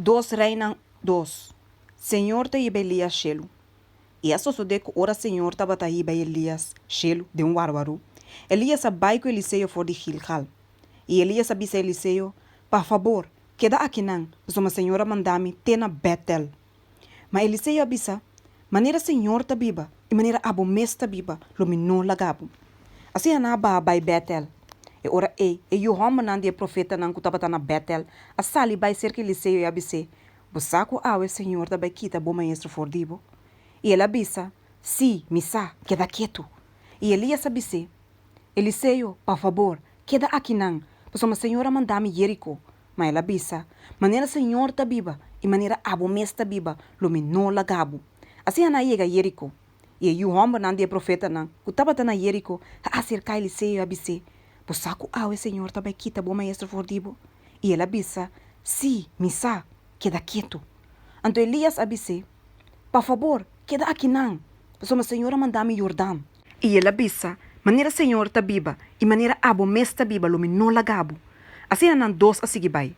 Dos Reinan dos. Señor ta hiba Elias shelu. I a sosodé ku ora Señor tabata hiba Elias shelu den un warwaru, Elias a bai ku Eliseo for di Gilgal. I Elias a bisa Eliseo, Pa fabor, keda akinan, pasobra Señor a manda mi te na Bètel. Ma Eliseo a bisa, Manera señor ta biba, i manera abo mes ta biba, lo mi no laga bo. Asina nan a baha bai Betel. E ora ei, e yu hòmbernan di e profetanan ku tabata na Betel a sali bai serka Eliseo i a bis'é, Bo sa ku awe señor ta bai kita bo maestro for di bo? I el a bisa, Sí, mi sa, keda ketu. I Elias a bis'é, Eliseo, pa fabor, keda akinan, pasobra señor a manda mi Jeriko. Ma el a bisa, Manera Señor ta biba, i manera abo mes ta biba, lo mi no laga bo. Asina nan a yega Jericó. I e yu hòmbernan di e profetanan ku tabata na Jericó a aserká Eliseo i a bis'é, Bo sa ku awe Señor ta bai kita bo maestro for di bo? I el a bisa, Sí, mi sa, keda ketu. Anto Elias a bis'é, Pa fabor, keda akinan, pasobra Señor a manda mi Yordan. I el a bisa, Manera Señor ta biba, i manera abo mes ta biba lo mi no lagabo. Asina nan dos a sigui bai.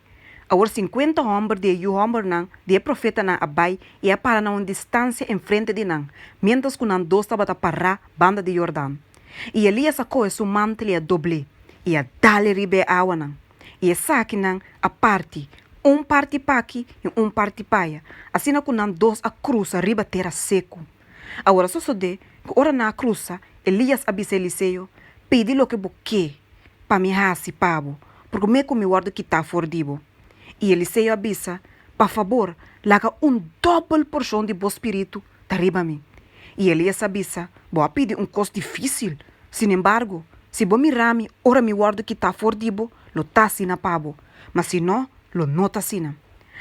Awor sinkuenta hòmber di e yu hòmbernan di e profetanan a bai i a para na un distansia enfrente di nan, miéntras ku nan dos tabata pará banda di Yordan. I Elías a kohe su mantel i a dobl'é, i a dal e riba e awanan. I esakinan a parti, un parti p'aki i un parti p'aya, asina ku nan dos a krusa riba tera seku. Awor a sosodé ku ora nan a krusa, Elías a bisa Eliseo, Pidi loke bo ke pa mi hasi pa bo, purke me ku mi wòrdu kitá for di bo. I Eliseo a bisa, Pa fabor, laga un dòbel porshon di bo spiritu ta riba mi. I Elías a bisa, Bo a pidi un kos difísil. Sinembargo, si bo mira mi ora mi wòrdu kitá for di bo, lo ta asina pa bo, ma si no, lo no ta asina.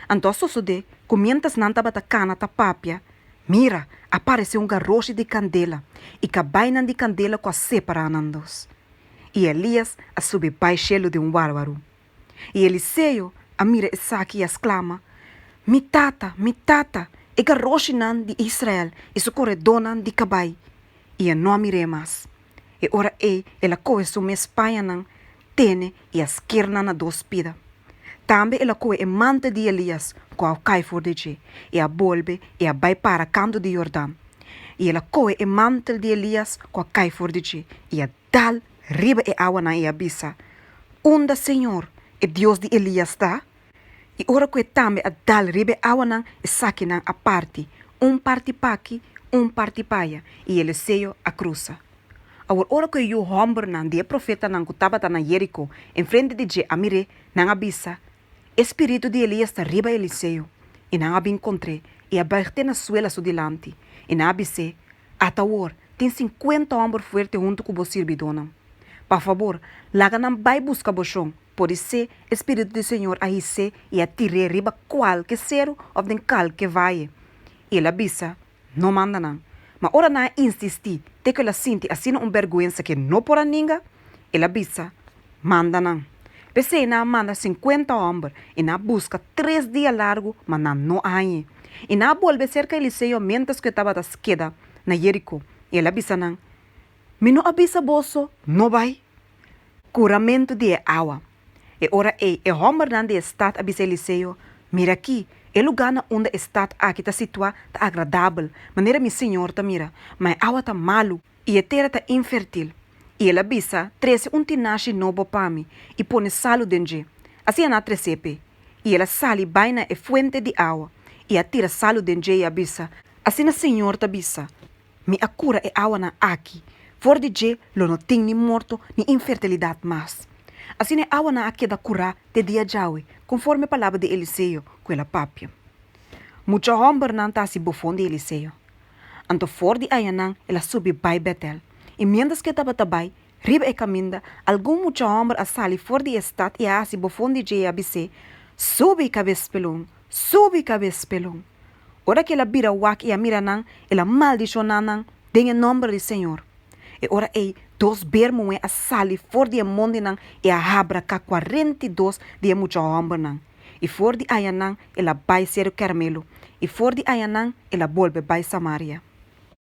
Anto a sosodé ku miéntras nan tabata kana ta papia, Mira, a paresé un garoshi di kandela i kabainan di kandela ku a separá nan dos. I Elias a subi bai shelu den un wàrwaru. I Eliseo a mira esaki i a sklama, Mi tata, mi tata, e garoshinan di Israel i su koredónan di kabai! I e no a mir'é mas. E ora ei el a kohe su mes pañanan tene i a skirna na dos pida. Tambe el a koe e manta di Elias ku a kai for di dje, i a bolbe i a bai para kantu di Yordan. I el a koe e mantel di Elias ku a kai for di dje, i a dal riba e awanan i a bisa, Unda señor, e Dios di Elias, ta? I ora ku e tambe a dal riba e awanan, esakinan a parti, un parti p'aki, un parti p'aya, i e leseyo a krusa. Awor ora ku e yu hòmbernan di e profetanan ku tabata na Yériko enfrente di dje a mir'é, nan a bisa, E spiritu di Elías ta riba Eliseo. I nan a bin kontr'é, i a buig te na suela su dilanti, i nan a bis'é, Ata awor, tin sinkuenta hòmber fuerte huntu ku bo sirbidónan. Pa fabor, laga nan bai buska bo shon, podisé e spiritu di Señor a his'é i a tir'é riba kualke seru òf den kualke vaye. I el a bisa, No manda nan. Ma ora nan a insistí te ku el a sinti asina un bèrgwensa ke no por a ninga, el a bisa, Manda nan. P'esei nan a manda sinkuenta hòmber i nan a buska tres dia largu, ma nan no hañ'e. I nan a bolbe serka Eliseo miéntras ku e tabata keda na Yeriko, i el a bisa nan, Mi no a bisa boso no bai? Kuramentu di e awa. E ora ei e hòmbernan di e stat a bisa Eliseo, Mira akí, e lugá na unda e stat aki ta situá ta agradabel, manera mi siñor ta mira, ma e awa ta malu i e tera ta infertil. I el a bisa, Trese un tinashi nobo pa mi i pone salu den dje. Asina nan a tres'é p'é. I el a sali bai na e fuente di awa i a tira salu den dje i a bisa, Asina siñor ta bisa, Mi a cura e awanan aki. For di dje lo no tin ni morto ni infertilidad mas. Asina e awanan a keda curá te dia djawe, conforme palabra di Eliseo cu el a papia. Mucha hombernan ta haci bofon di Eliseo. Anto for di ayanan el a subi bai Betel. I mientras cu e tabata bai, riba e caminda, algun mucha homber a sali for di e stad i a haci bofon di dje i a bis'é, Subi, cabespelon, Subi kabes pelon. Ora ki el a bira wak i a mira nan, el a maldishoná nan den e nòmber di Señor. E ora ei, dos beer muhé a sali for di e mon di nan i a habra ka kuarenta i dos di e mucha hòmbernan. I for di ayanan el a bai seru Kèrmelu, i for di ayanan el a bolbe bai Samaria.